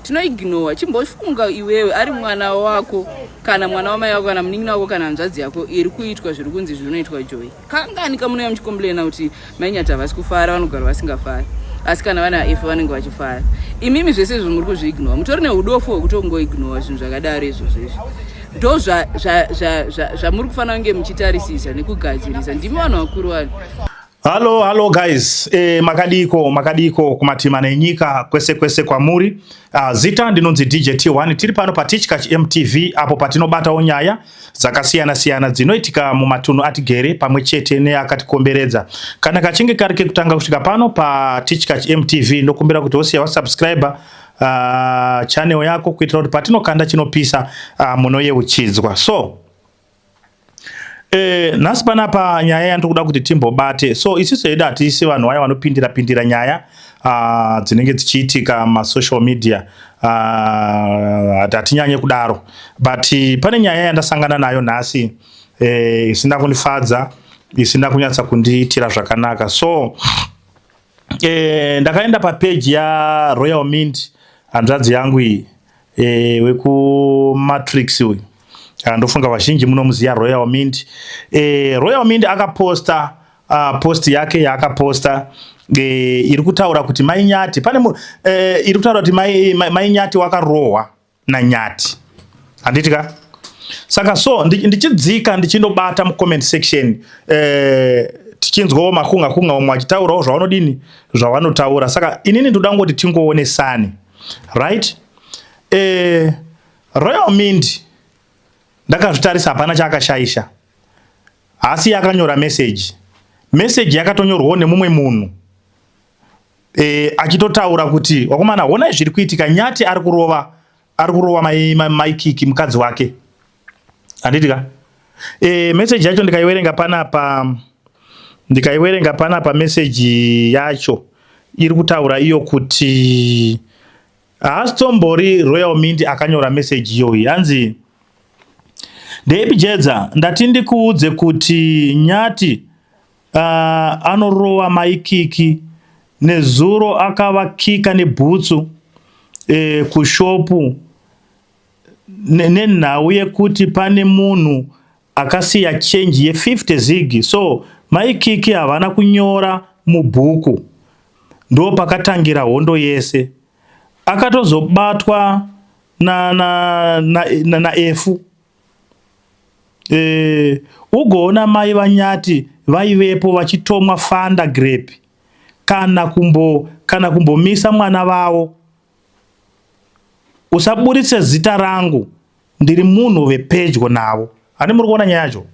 tinoignowa chimbofunga iwewe ari mwana wako kana mwana wamai wako kana munin'ina wako kana hanzvadzi yako iri kuitwa zviri kunzi zvinoitwa joy kangani kamunouya muchikomblena kuti mainyati havasi kufara vanogara vasingafari asi kana vana if vanenge vachifara imimi zvese izvo muri kuzviignowa mutori neudofo hwekutongoignowa zvinhu zvakadaro izvozvo izvi ndo zvamuri kufanira kunge muchitarisisa nekugadzirisa ndimi vanhu vakuru vanhu Halo halo guys, e, makadiko makadiko kumatima nenyika kwese kwese kwamuri. Uh, zita ndinonzi DJ T1 tiri pano pa Tichkach MTV apo patinobatawo nyaya dzakasiyana siyana dzinoitika mumatunhu atigere pamwe chete neakatikomberedza. Kana kachinge kari kekutanga kusvika pano pa Tichkach MTV ndokumbira kuti wosiya wa subscribe uh, channel yako kuitira kuti patinokanda chinopisa uh, munoyeuchidzwa. So Eh, nhasi panapa nyaya yandikuda kuti timbobate so isiso yedu hatiisi vanhu vaya vanopindira pindira nyaya uh, dzinenge dzichiitika masocial media ah, hatinyanye uh, kudaro but pane nyaya yandasangana nayo nhasi eh, isina eh, kundifadza isina kunyatsa kundiitira zvakanaka so Eh, ndakaenda pa page ya Royal Mint hanzvadzi yangu iyi eh, weku Matrix uyu ah, ndofunga vazhinji munomuziva Royal Mint eh, Royal Mint akaposta uh, post yake yaakaposta eh, iri kutaura kuti mai Nyati pane eh, iri kutaura kuti mai, mai, mai Nyati wakarohwa naNyati handiti ka saka so ndichidzika ndichindobata mucomment section eh, tichinzwawo makunga kunga vamwe vachitaurawo zvavanodini zvavanotaura saka inini ndoda ngoti tingoonesani right eh, royal mind ndakazvitarisa hapana chaakashaisha haasi yakanyora message message yakatonyorwawo nemumwe munhu e, achitotaura kuti wakomana honai zviri kuitika nyati ari kurova ari kurova maikiki mukadzi wake handiti ka e, eh, meseji yacho ndikaiwerenga panapa ndikaiwerenga panapa meseji yacho iri kutaura iyo kuti haasitombori royal mindi akanyora meseji iyoyi hanzi ndeipi jedza ndati ndikuudze kuti nyati uh, anorowa maikiki nezuro akavakika nebhutsu eh, kushopu nenhau ne yekuti pane munhu akasiya chenji ye50 zigi so maikiki havana kunyora mubhuku ndo pakatangira hondo yese akatozobatwa na, na, na, na, na efu Eh, ugoona mai vanyati vaivepo vachitomwa fanda grape kana kumbo kana kumbomisa mwana vavo usaburitse zita rangu ndiri munhu vepedyo navo handi muri kuona nyaya yacho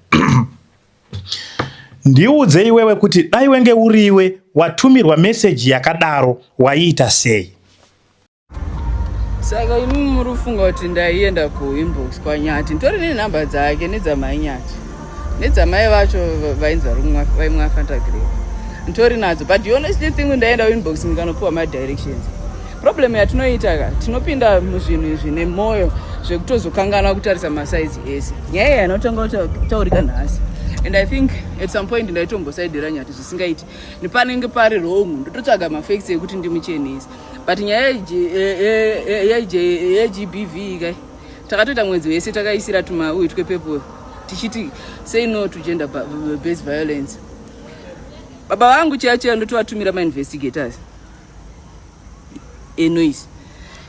ndiudze iwewe kuti dai wenge uriwe watumirwa meseji yakadaro waiita sei saka imi muri kufunga kuti ndaienda kuinbox kwanyati nditori nenhamba dzake nedzamai nyati nedzamai vacho vainzi vaimwe afantagree nditori nadzo but the honestly thing ndaenda kuinbox ndikanopiwa madirections problem yatinoita ka tinopinda muzvinhu izvi nemwoyo zvekutozokanganwa kutarisa masaizi ese nyaya yeah, yanotanga kutaurika nhasi and i think at some point ndaitombosaidira nyati zvisingaiti nepanenge pari wrong ndototsvaga mafacts ekuti ndimuchenese but nyaya yegbv kai takatoita mwedzi wese takaisira tumauyu twepepo tichiti say no to gender based violence baba vangu chiya chiya ndotovatumira mainvestigators enoise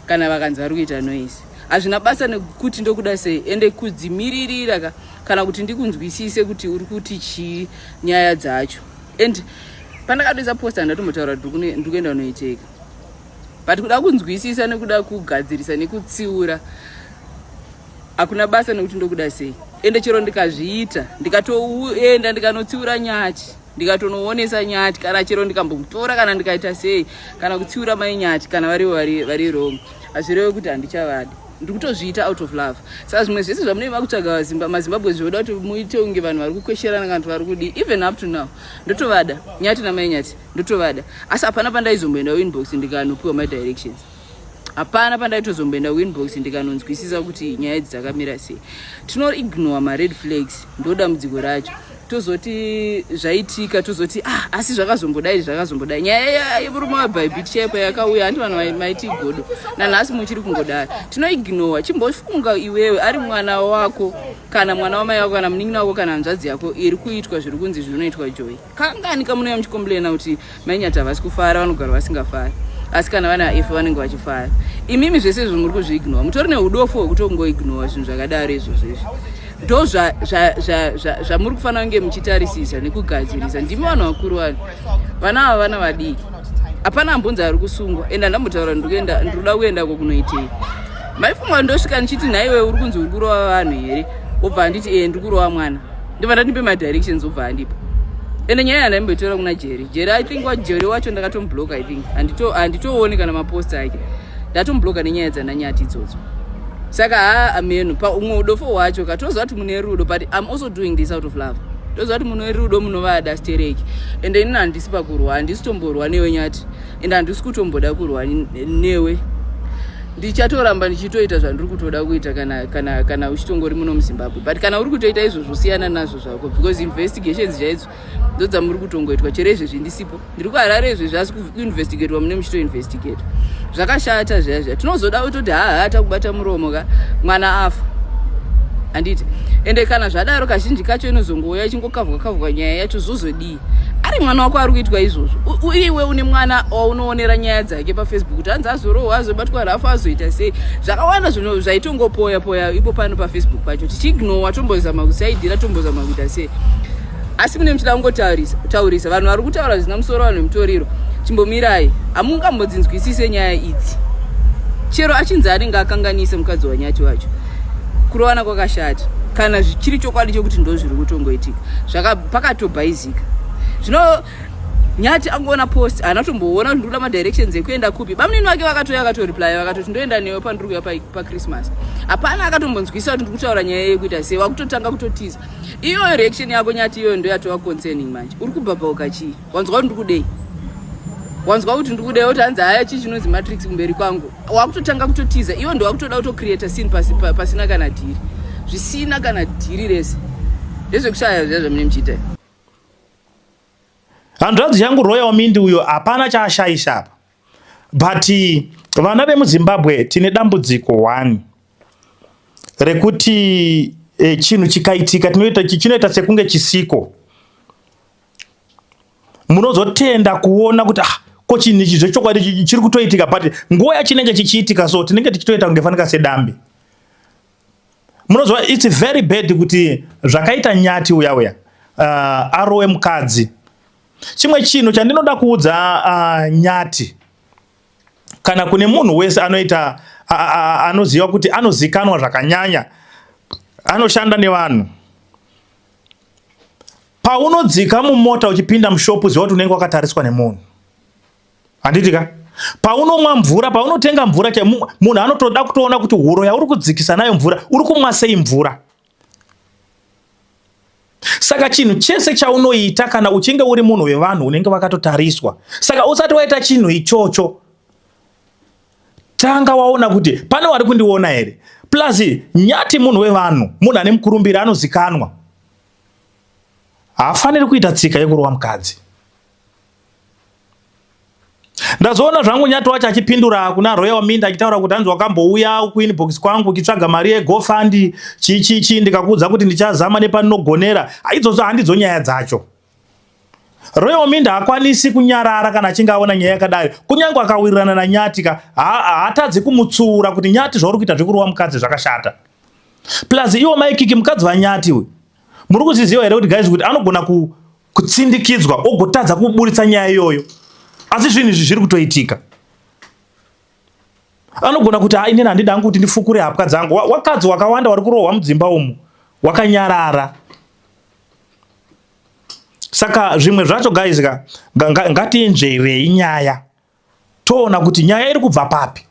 kana vakanzi vari kuita noise hazvina basa nekuti ndokuda sei ende kudzimiririra ka kana kuti ndikunzwisise kuti uri kuti chii nyaya dzacho and pandakatoisa posta ndatombotaura kuti ndikuenda kunoicheka but kuda kunzwisisa nekuda kugadzirisa nekutsiura hakuna basa nekuti ndokuda sei ende chero ndikazviita ndikatoenda ndikanotsiura nyati ndikatonoonesa nyati kana chero ndikambomutora kana ndikaita sei kana kutsiura mai nyati kana vari vari vari wrong hazvirewe kuti handichavadi ndiri kutozviita out of love saka zvimwe zvese zvamunenge makutsvaga vazimba mazimbabwe zvoda kuti muite unge vanhu vari kukwesherana kana kuti vari kudii even up to now ndotovada nyati namai nyati ndotovada asi hapana pandaizomboenda winbox ndikanopiwa my directions hapana pandaitozomboenda winbox ndikanonzwisisa kuti nyaya idzi dzakamira sei tinoignore mared flags ndodambudziko racho tozoti zvaitika tozoti ah asi zvakazongodai zvakazongodai nyaya yemurume wabhaibhiti chaipo yakauya handi vanhu maiti igodo nanhasi muchiri kungodai tinoignowa chimbofunga iwewe ari mwana wako kana mwana wamai wako kana munin'ina wako kana hanzvadzi yako iri kuitwa zviri kunzi zvinoitwa joy kangani kamunouya muchikomblena kuti Mainyati havasi kufara vanogara vasingafari asi kana vana if vanenge vachifara imimi zvese izvo muri kuzviignora mutori neudofo hwekuti kungoignora zvinhu zvakadaro izvozvo izvi ndo zvamuri kufanira kunge muchitarisisa nekugadzirisa ndimi vanhu vakuru vanhu vana ava vana vadiki hapana ambonzi ari kusungwa ende andambotaura ndikuenda ndikuda kuenda ko kunoitei maifunga ndosvika ndichiti nhaiwe uri kunzi uri kurova vanhu here wobva handiti ee eh, ndiri kurova mwana ndibva ndatipe madirections obva andipa ende nyaya yandaimboitora kuna jeri jeri i think wajeri wacho ndakatombloka i think handitooni kana mapost ake ndatombloka nenyaya dzandanyati idzodzo saka haa amenu paumwe udofo hwacho ka toziva kuti mune rudo but im also doing this out of love toziva kuti mune rudo munovada stereki ende inini handisi pakurwa handisi tomborwa newenyati and handisi kutomboda kurwa newe ndichatoramba ndichitoita zvandiri kutoda kuita kana kana kana uchitongori muno muzimbabwe but kana uri kutoita izvozvo siyana nazvo zvako because investigations chaidzo ndo dzamuri kutongoitwa chero izvezvi ndisipo ndiri kuharare izvezvi asi kuinvestigatwa mune muchitoinvestigata zvakashata zviya zviya tinozoda kutoti haha takubata muromo ka mwana afa handiti ende kana zvadaro kazhinji kacho inozongouya ichingokavhwa kavhwa nyaya yacho zvozodii ari mwana wako ari kuitwa izvozvo uye iwe une mwana waunoonera nyaya dzake pafacebook kuti hanzi azorohwa azobatwa rafu azoita sei zvakawanda zvinhu zvaitongopoya poya ipo pano pafacebook pacho tichiignowa tombozama kusaidira tombozama kuita sei asi mune muchida kungotaurisa vanhu vari kutaura zvisina musoro vanhu vemutoriro chimbomirai hamungambodzinzwisise nyaya idzi chero achinzi anenge akanganisa mukadzi wanyati wacho kurovana kwakashata kana zvichiri chokwadi chokuti ndozviri kutongoitika pakatobhaizika zvino nyati angoona post haana kutomboona kuti ndikuda madirections ekuenda kupi bamunini vake vakatouya vakatoreply vakatoti ndoenda newe pandiri kuya pachristmas hapana akatombonzwisa kuti ndiri kutaura nyaya yekuita sei wakutotanga kutotiza iyoyo reaction yako nyati iyoyo ndoyatova concerning manje uri kubhabhauka chii wanzwa kuti ndikudei wanzwa kuti ndikudei oti hanzi haya chii chinonzi matrix kumberi kwangu wakutotanga kutotiza iwo ndo wakutoda kutocreata sin pasina kana dhiri zvisina kana dhiri rese ndezvekushaya zviya zvamine muchiita hanzvadzi yangu royal mindi uyo hapana chaashaisa apa but vana vemuzimbabwe tine dambudziko one rekuti e, chinhu chikaitika tinoita chinoita sekunge chisiko munozotenda kuona kuti ah, ko chinhu ichi zvechokwadi chiri kutoitika but nguva yachinenge chichiitika so tinenge tichitoita kunge fanika sedambe munoziva its very bad kuti zvakaita nyati uya uya uh, arowe mukadzi chimwe chinhu chandinoda kuudza uh, nyati kana kune munhu wese anoita anoziva kuti anozikanwa zvakanyanya anoshanda nevanhu Paunodzika mumota uchipinda mushopu ziva kuti unenge wakatariswa nemunhu. Handiti ka? Paunomwa mvura, paunotenga mvura chai munhu anotoda kutoona kuti huro yauri kudzikisa nayo mvura, uri kumwa sei mvura? Saka chinhu chese chaunoita kana uchinge uri munhu wevanhu unenge wakatotariswa. Saka usati waita chinhu ichocho tanga waona kuti pane wari kundiona here plus nyati munhu wevanhu munhu ane mukurumbiri anozikanwa haafaniri kuita tsika yekurova mukadzi ndazoona zvangu nyati wacho achipindura kuna roya waminda achitaura kuti hanzi wakambouya kuinbox kwangu uchitsvaga mari yegofandi chichichi ndikakuudza kuti ndichazama nepaninogonera aidzonzo handidzo nyaya dzacho Reominda haakwanisi kunyarara kana achinge aona nyaya yakadai. Kunyange akawirirana naNyati ka, haatadzi kumutsuura kuti Nyati zvauri kuita zvekurova mukadzi zvakashata. Plus iwo mai Kiki mukadzi vaNyati uyu. Muri kuzviziva here kuti guys kuti anogona ku, kutsindikidzwa ogotadza kuburitsa nyaya iyoyo. Asi zvinhu izvi zviri kutoitika. Anogona kuti ha inini handidi hangu kuti ndifukure hapwa dzangu. Wakadzi wakawanda wari kurohwa mudzimba umu wakanyarara. saka zvimwe zvacho guys ka ngatiinzverei nyaya toona kuti nyaya iri kubva papi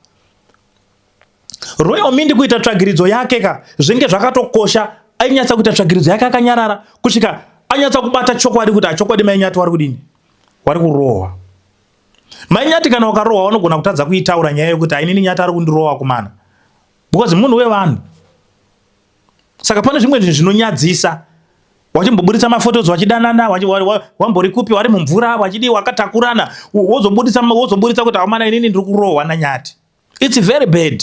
royal mindi kuita tsvagiridzo yake ka zvinge zvakatokosha ainyatsa kuita tsvagiridzo yake akanyarara kusvika anyatsa kubata chokwadi kuti achokwadi mainyati wari kudini wari kurohwa mainyati kana wakarohwa wanogona kutadza kuitaura nyaya yekuti ainini nyati ari kundirohwa kumana because munhu wevanhu saka pane zvimwe zvinhu zvinonyadzisa wachimboburitsa mafotos wachidanana wambori kupi wari mumvura wachidii wakatakurana wozoburitsa kuti amana inini ndiri kurohwa nanyati its very bad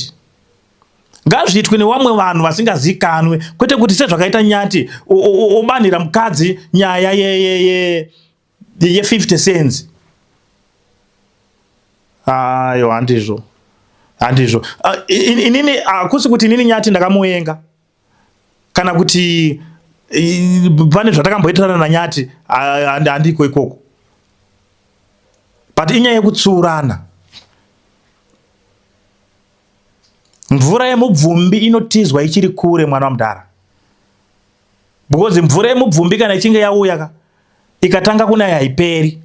ngazviitwe nevamwe vanhu vasingazikanwe kwete kuti sezvakaita nyati obanhira mukadzi nyaya yeyeye ye, ye, ye. ye 50 cents ayo handizvo handizvo ah, inini hakusi ah, kuti inini nyati ndakamuvenga kana kuti pane zvatakamboitirana nanyati ah, handiko ikoko but inyaya yekutsuurana mvura yemubvumbi inotizwa ichiri kure mwana wamudhara because mvura yemubvumbi kana ichinge yauya ka ikatanga kunaya haiperi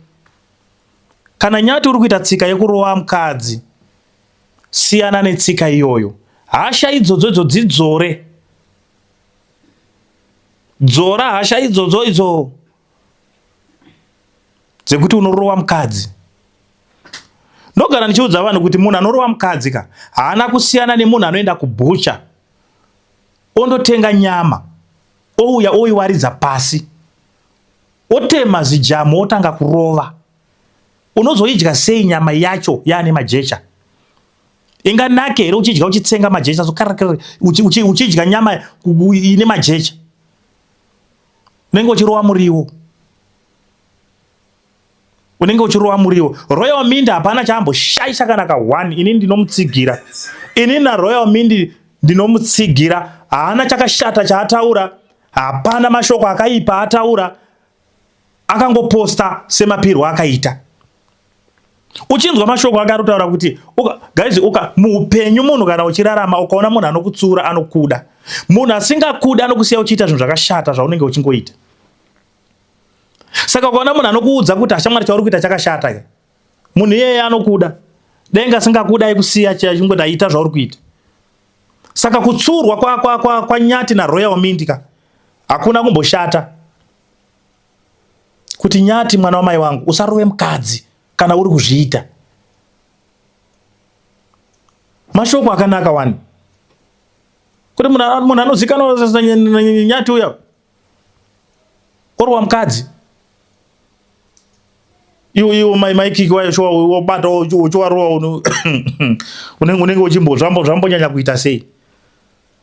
kana nyati uri kuita tsika yekurova mukadzi siyana netsika iyoyo hasha idzodzo idzo dzidzore dzora hasha idzodzo idzo dzekuti unorova mukadzi ndogara ndichiudza vanhu kuti munhu anorova mukadzi ka haana kusiyana nemunhu anoenda kubhucha ondotenga nyama ouya oiwaridza pasi otema zijamu otanga kurova unozoidya sei nyama yacho yaane majecha inganake here uchidya uchitsenga majecha uchidya nyama ine majecha unenge uchirova muriwo unenge uchirova muriwo. Royal Mint hapana chaamboshaisha kana ka one, ini ndinomutsigira. Ini na Royal Mint ndinomutsigira, haana chakashata chaataura, hapana mashoko akaipa ataura, akangoposta semapirwo akaita. Uchinzwa mashoko akarotaura kuti uka, guys uka muupenyu munhu kana uchirarama ukaona munhu anokutsura anokuda. Munhu asingakuda anokusiya uchiita zvinhu zvakashata zvaunenge uchingoita. Saka ukaona munhu anokuudza kuti ashamwari chauri kuita chakashata ke. Munhu iyeye anokuda. Denga singakuda ikusiya chingoti aita zvauri kuita. Saka kutsurwa kwa kwa kwa, kwa Nyati na Royal Mint ka hakuna kumboshata. Kuti Nyati mwana wamai wangu usarove mukadzi kana uri kuzviita. Mashoko akanaka wani. Kuti munhu munhu anozikanwa Nyati uya. orwa mukadzi iwe iwe mai mai kiki wayo shuwa wobata uchiwarowa unenge unenge uchimbo zvambo zvambonyanya kuita sei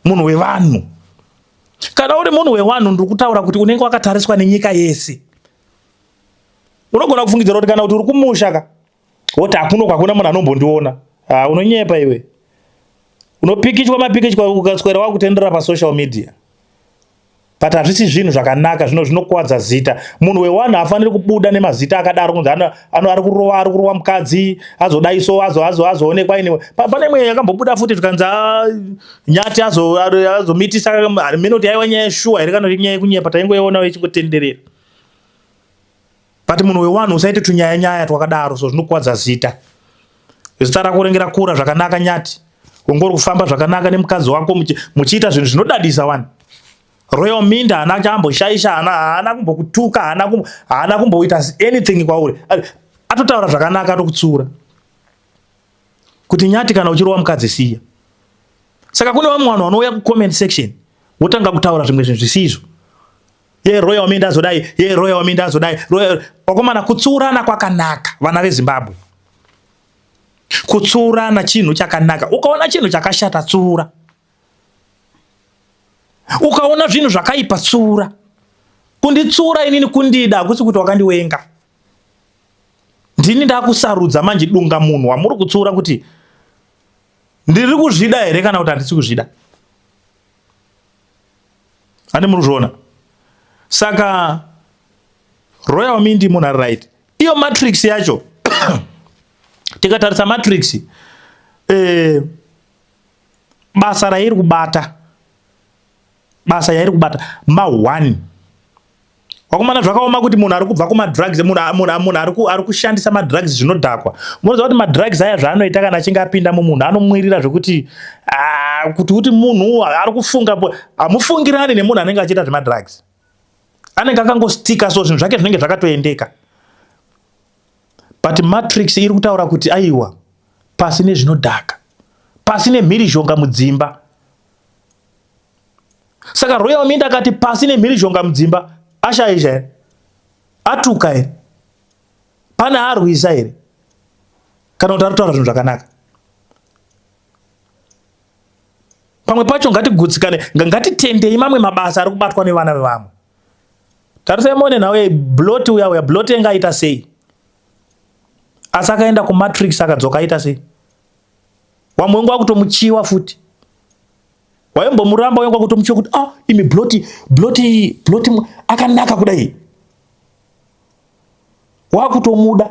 munhu wevanhu kana uri munhu wewanhu ndiri kutaura kuti unenge wakatariswa nenyika yese unogona kufungidzira kuti kana kuti uri kumusha ka woti hakuno kwakuna munhu anombondiona ha unonyepa iwe unopikichwa mapikichwa ukaswera wakutenderera pasocial media but hazvisi zvinhu zvakanaka zvino zvinokwadza zita munhu wewanhu haafaniri kubuda nemazita akadaro kunzi ari kurova ari kurova mukadzi azodai so azoonekwa iniwe pane imwe yakambobuda futi zvikanzi ah, nyati azomitisa mino kuti yaiwa nyaya yeshuwa here kana kuti nyaya yekunyepa taingoionawo ichingotenderera but munhu wewanhu usaite tunyaya nyaya twakadaro so zvinokwadza zita zita rako renge rakura zvakanaka nyati ungori kufamba zvakanaka nemukadzi wako muchiita zvinhu zvinodadisa wani royal minda haana chamboshaisha haana haana kumbokutuka haana haana kumboita anything kwauri atotaura zvakanaka atokutsiura kuti nyati kana uchirowa mukadzi siya saka kune vamwe vanhu vanouya kucomment section wotanga kutaura zvimwe zvinhu zvisizvo ye roya waminda azodai ye roya waminda azodai roya wakomana kutsurana kwakanaka vana vezimbabwe kutsurana chinhu chakanaka ukaona chinhu chakashata tsura ukaona zvinhu zvakaipa tsura kunditsura inini kundida hakusi kuti wakandiwenga ndini ndakusarudza manje dunga munhu wamuri kutsura kuti ndiri kuzvida here kana kuti handisi kuzvida ani muri kuzviona saka royal mindi munhu ari right iyo matrix yacho tikatarisa matrix eh, basa rairi kubata basa yairi kubata ma1 Vakomana zvakaoma kuti munhu ari kubva kumadrugs munhu ari kushandisa madrugs zvinodhakwa munoziva kuti madrugs aya zvaanoita kana achinge apinda mumunhu anomwirira zvekuti ah, kuti kuti munhu ari kufunga hamufungirani nemunhu anenge achiita zvemadrugs anenge akangostika so zvinhu zvake zvinenge zvakatoendeka but matrix iri kutaura kuti aiwa pasi nezvinodhaka pasi nemhirizhonga mudzimba saka royal mint akati pasi nemhirizhonga mudzimba ashaizha here atuka here pane arwisa here kana kuti aritaura zvinhu zvakanaka pamwe pacho ngatigutsikane ngatitendei mamwe mabasa ari kubatwa nevana vevamwe tarisai mone nhau yablot uya uya blot enge aita sei asi akaenda kumatrix akadzoka aita sei wamwe wangu akutomuchiwa futi waimbomuramba wangu akutomuchiwa kuti ah imi bloti bloti bloti akanaka kudai wakutomuda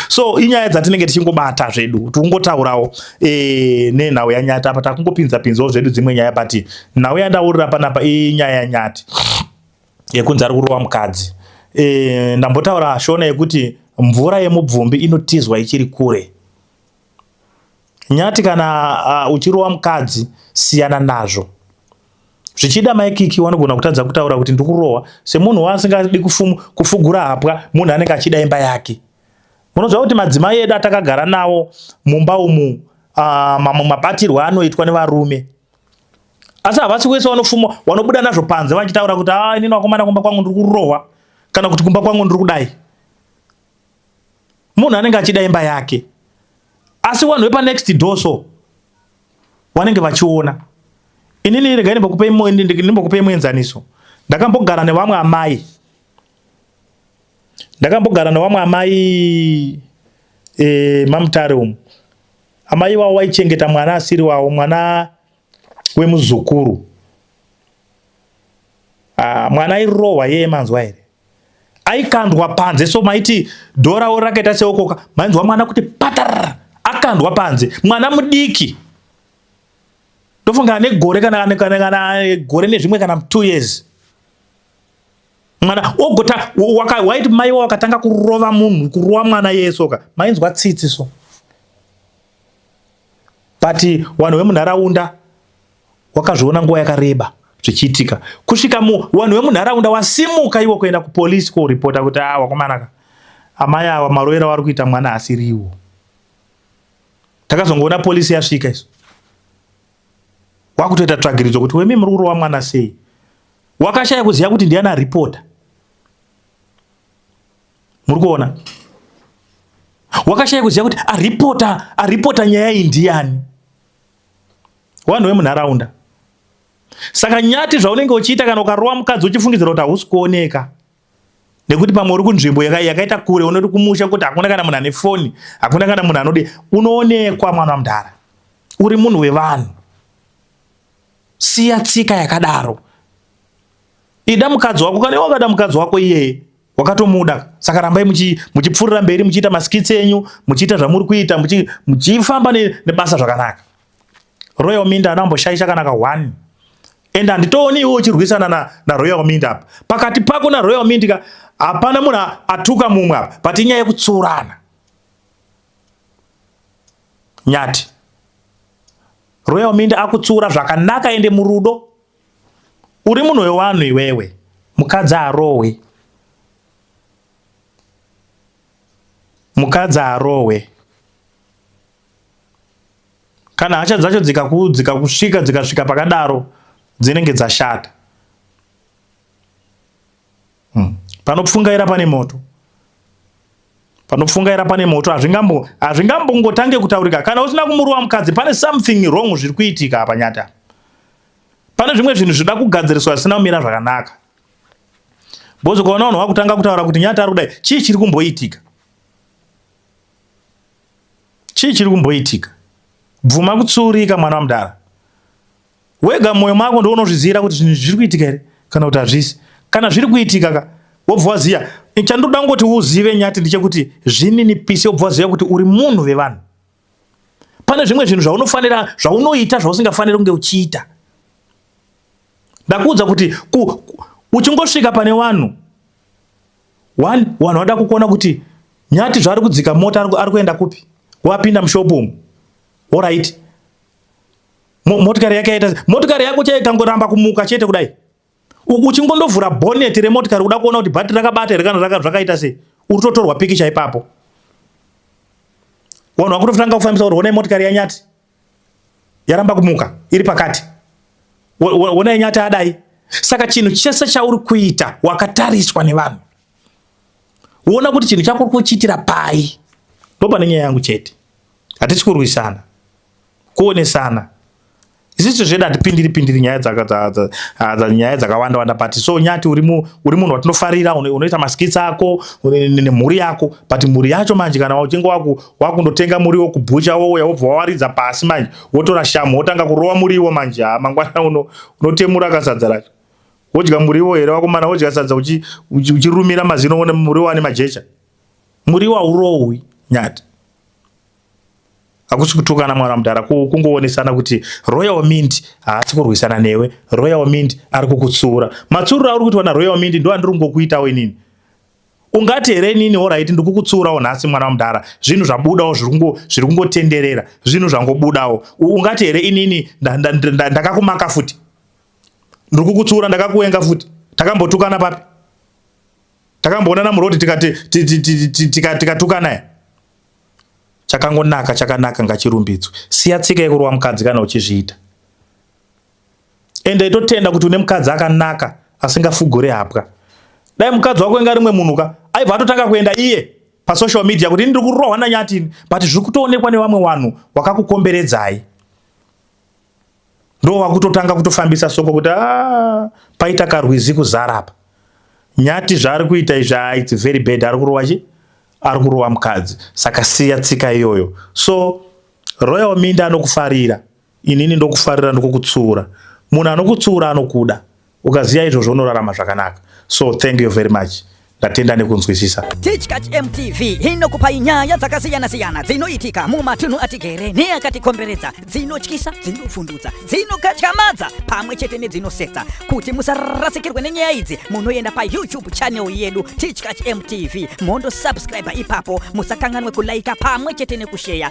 so inyaya dzatinenge tichingobata zvedu kuti ungotaurawo e, eh, nenhau yanyati apa takungopinza pinzawo zvedu dzimwe nyaya but nhau yandaurira panapa inyaya yanyati yekunzi ari kurova mukadzi e, ndambotaura shona yekuti mvura yemubvumbi inotizwa ichiri kure nyati kana uh, uchirova mukadzi siyana nazvo zvichida maikiki wanogona kutadza kutaura kuti ndikurohwa semunhu waasingadi kufugura hapwa munhu anenge achida imba yake munoziva kuti madzimai edu atakagara nawo mumba umu uh, mamwe mabatirwo anoitwa nevarume asi havasi wese vanofuma vanobuda nazvo panze vachitaura kuti a ah, inini vakomana kumba kwangu ndiri kurohwa kana kuti kumba kwangu ndiri kudai munhu anenge achida imba yake asi vanhu vepanext door so vanenge vachiona inini regai ndimbokupei muenzaniso ndakambogara nevamwe amai ndakambogara nevamwe amai e, mamutare umu Amai wavo waichengeta mwana asiri wavo, mwana wemuzukuru. Ah, mwana airohwa yeye manzwa here? Aikandwa panze so maiti dhora wo rakaita seokoka mainzwa mwana kuti patar akandwa panze mwana mudiki ndofunga ane gore kana kana gore nezvimwe kana two years mwana ogota waiti mai wa wakatanga kurova munhu kurova mwana yesoka mainzwa tsitsi so but vanhu vemunharaunda wakazviona nguva yakareba zvichiitika kusvika vanhu vemunharaunda wasimuka iwo kuenda kupolisi koripota kuti a ah, wakomanaka amai ava marovera wari kuita mwana asiriwo takazongoona polisi yasvika isu wakutoita tsvagiridzo kuti wemi muri kurova mwana sei wakashaya kuziva kuti ndiana ripota muri kuona wakashaya kuziva kuti aripota aripota nyaya iyi ndiyani vanhu vemunharaunda saka nyati zvaunenge uchiita kana ukarova mukadzi uchifungidzira kuti hausi kuoneka nekuti pamwe uri kunzvimbo yakaita kure unoti kumusha kuti hakuna kana munhu ane foni hakuna kana munhu anodi unoonekwa mwana mudhara uri munhu wevanhu siya tsika yakadaro ida mukadzi wako kana wakada mukadzi wako iyeye wakatomuda saka rambai muchipfuurira mberi muchiita maskits enyu muchiita zvamuri kuita muchifamba nebasa zvakanaka Royal Minda anamboshaisha kana ka one and handitooni iwe uchirwisana na, na Royal Minda apa pakati pako na Royal Minda ka hapana munhu atuka mumwe apa but inyaya yekutsurana nyati Royal Minda akutsura zvakanaka ende murudo uri munhu wewanhu iwewe mukadzi arowe mukadzi arowe kana hasha dzacho dzikakudzika kusvika dzikasvika pakadaro dzinenge dzashata hmm. panopfungaira pane moto panopfungaira pane moto hazvingambo hazvingambongotange kutaurika kana usina kumurova mukadzi pane something wrong zviri kuitika apa nyata pane zvimwe zvinhu zvinoda kugadziriswa zvisina kumira zvakanaka bozi ukaona vanhu vakutanga kutaura kuti nyata ari kudai chii chiri kumboitika Chii chiri kumboitika? Bvuma kutsiurika mwana wamudara. Wega mwoyo mako ndiwo unozviziyira kuti zvinhu zviri kuitika here kana kuti hazvisi. Kana zviri kuitika ka wobva waziya. Chandoda kungoti uzive nyati ndechekuti zvininipise wobva waziya kuti uri munhu vevanhu. Pane zvimwe zvinhu zvaunofanira zvaunoita zvausingafaniri kunge uchiita. Ndakuudza kuti ku, ku, uchingosvika pane vanhu One, wanhu wada kukuona kuti nyati zvaari kudzika mota ari kuenda kupi wapinda mushop umu orit motikari yake yaita motikari yako chaiye kangoramba kumuka chete kudai uchingondovhura bonet remotikari kuda kuona kuti bhati rakabata here kana zvakaita sei uri totorwa pikicha ipapo wanhu vakutotanga kufambisa kuti honai motikari yanyati yaramba kumuka iri pakati wona inyata adai saka chinhu chese chauri kuita wakatariswa nevanhu wona kuti chinhu chako kuchiitira pai ndopane nyaya yangu chete hatisi kurwisana kuonesana isisu zvedu hatipindiri pindiri nyaya nyaya dzakawanda wanda but so nyati uri munhu watinofarira unoita maskits ako nemhuri yako but mhuri yacho manje kana uchinge wakundotenga muriwo kubhucha wouya wobva wawaridza pasi manje wotora shamu wotanga kurova muriwo manje ha mangwana uno unotemura kasadza racho wodya muriwo here wakomana wodya sadza uchirumira mazino one muriwo ane majecha muriwo haurohwi nyati hakusi kutukana mwana mudhara kungoonesana kuti royal mint haasi kurwisana newe royal mint ari kukutsuura matsurura auri kuitwa naroyal mint ndo andiri kungokuitawo inini ungati here inini orit ndikukutsiurawo nhasi mwana wamudhara zvinhu zvabudawo zviri kungotenderera zvinhu zvangobudawo ungati here inini ndakakumaka futi ndiri kukutsiura ndakakuenga futi takambotukana papi takamboonana muroti tikatukana chakangonaka chakanaka ngachirumbidzwe siya tsika yekurova mukadzi kana uchizviita ende itotenda kuti une mukadzi akanaka asingafugure hapwa dai mukadzi wako inga rimwe munhu ka aibva atotanga kuenda iye pasocial media kuti ini ndiri kurohwa nanyatini but zviri kutoonekwa nevamwe vanhu wakakukomberedzai ndo wakutotanga kutofambisa soko kuti ah, paita karwizi kuzarapa nyati zvaari kuita izvi ah, its very bad ari kurova chi ari kurova mukadzi saka siya tsika iyoyo so royal minda anokufarira Inini ndokufarira ndokukutsiura. Munhu anokutsiura anokuda. Ukaziva izvozvo unorarama zvakanaka. So thank you very much. Ndatenda nekunzwisisa. Tichkach MTV inokupai nyaya dzakasiyana siyana dzinoitika mumatunhu atigere neakatikomberedza dzinotyisa, dzinovhundutsa, dzinokatyamadza pamwe chete nedzinosetsa. Kuti musarasikirwe nenyaya idzi munoenda paYouTube channel yedu Tichkach MTV mondo subscribe ipapo musakanganwe kulaika pamwe chete nekusheya.